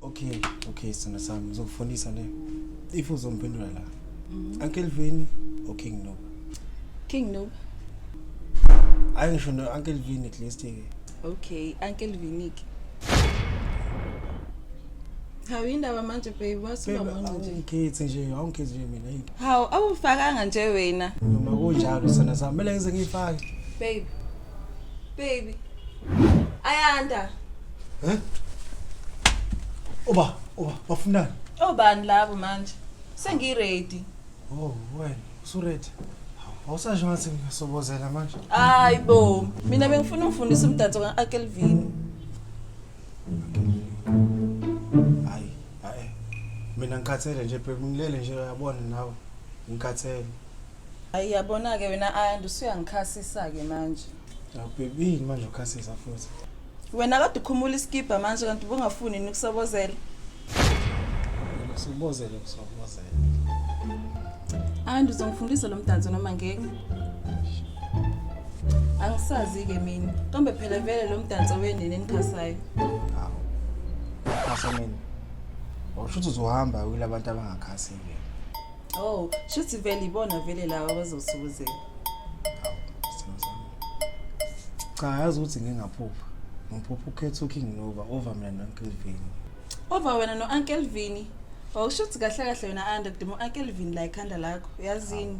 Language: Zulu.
Okay, okay sithanda sami ngizokufundisa le. If uzomphendula la. Mhm. Uncle Vini or King Nob. King Nob. Hayi ngisho no Uncle Vini at least ke. Okay, Uncle Vini ke. Hawu indaba manje babe wasuka manje nje. Ngikhethi nje, awungikhethi nje mina yini. Hawu awufakanga nje wena. Noma kunjalo sithanda sami, mele ngize ngiyifake. Babe, Baby. Ayanda. Eh? Oba, oba, bafunani? Obani labo manje? Sengi ready. Oh, wena, usu ready. Awusasho ngathi ngisobozela manje. Hayi bo, mina bengifuna ungifundisa umdanso ka Akelvin. Hayi, hayi. Mina ngikhathele nje baby, ngilele nje uyabona nawe. Ngikhathele. Hayi yabona ke wena Ayanda usuyangikhasisa ke manje. Awubhebini manje ukhasisa futhi. Wena kade ukhumula iskibha manje kanti ubungafuni yini ukusobozela? Usubozele usubozele. Ayanda uzongifundisa lo mdanso noma ngeke? Angisazi ke mina. Kambe phela vele lo mdanso wenene enikhasayo. Hawu. Khasa mina. Awusho ukuthi uzohamba uyila abantu abangakhasi ke. Oh, shuthi vele ibona vele laba abazosukuzela. Cha yazi ukuthi ngingaphupha. Ngiphupha ukhetha uKing Nova over mina noNkle Vini. Over wena noNkle Vini. Wawushuthi kahle kahle wena anda kudima uNkle Vini la ekhanda lakho. Yazini.